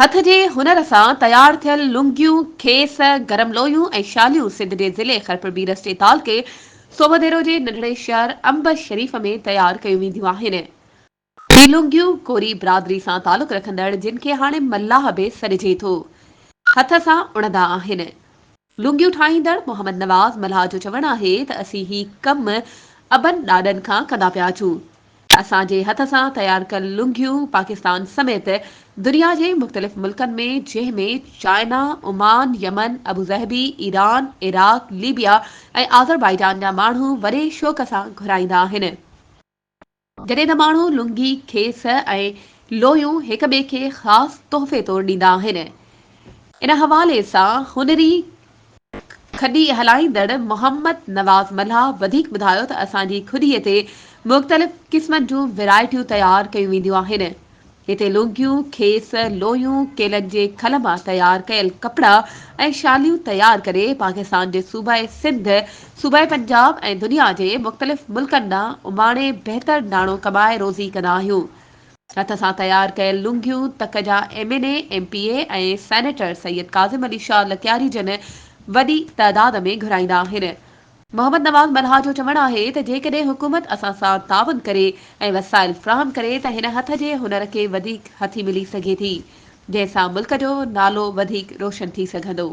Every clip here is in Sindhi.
هٿ جي هنر سان تيار ٿيل لنگيون، کيس، گرم لويون ۽ شاليون سنڌ جي ضلعي خرپربيرس جي تعلقي سوڀديرو جي ننڍڙي شهر امب شريف ۾ تيار ڪيون وينديون آهن. هي لنگيون ڪوري برادري سان تعلق رکندڙ جن کي هاڻي ملاح به سڏجي ٿو هٿ سان اڻندا آهن. لونگيون ٺاهيندڙ محمد نواز ملاح جو چوڻ آهي ته اسين هي ڪم ابن ڏاڏن کان ڪندا پيا اچون. اسان جي هٿ سان تيار ڪيل لونگيون پاڪستان سميت دنيا جي مختلف ملڪن ۾ جنهن ۾ China, Oman, Yemen, Abu Dhabi, Iran, Iraq, Libya ۽ Azerbaijan جا ماڻهو وڏي شوق سان گهرائيندا آهن. جڏهن ته ماڻهو لنگي، کيس ۽ لويون هڪ ٻئي کي خاص تحفي طور ڏيندا آهن. ان حوالي سان هنري کڏي هلائيندڙ محمد نواز ملاح وڌيڪ ٻڌايو ته اسان جي کڏي تي مختلف قسمن جون ويرائٽيون تيار ڪيون وينديون آهن هتي لوگيون، کيس، لويون، ڪيلن جي کل مان تيار ڪيل ڪپڙا ۽ شاليون تيار ڪري پاڪستان جي صوبائي سنڌ، صوبائي پنجاب ۽ دنيا جي مختلف ملڪن ڏانهن اماڻي بهتر ناڻو ڪمائي روزي ڪندا آهيون. هٿ سان تيار ڪيل لونگيون تڪ جا M N A, M P A ۽ senator Syed Kazim Ali Shah Lakyari جن وڏي تعداد ۾ گهرائيندا آهن. محمد نواز ملهار جو چوڻ آهي ته جيڪڏهن حڪومت اسان سان تعاون ڪري ۽ وسائل فراهم ڪري ته هن هٿ جي هنر کي وڌيڪ هٿي ملي سگهي ٿي جنهن سان ملڪ جو نالو وڌيڪ روشن ٿي سگهندو.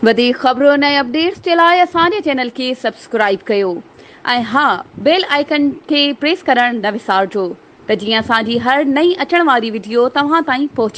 وڌيڪ خبرن ۽ اپڊيٽس جي لاء اسان جي چينل کي سبسڪرائيب ڪيو ۽ ها بيل آئيڪن کي پريس ڪرڻ نه وسارجو ته جيئن اسان جي هر نئين اچڻ واري وڊيو توهان تائين پهچي.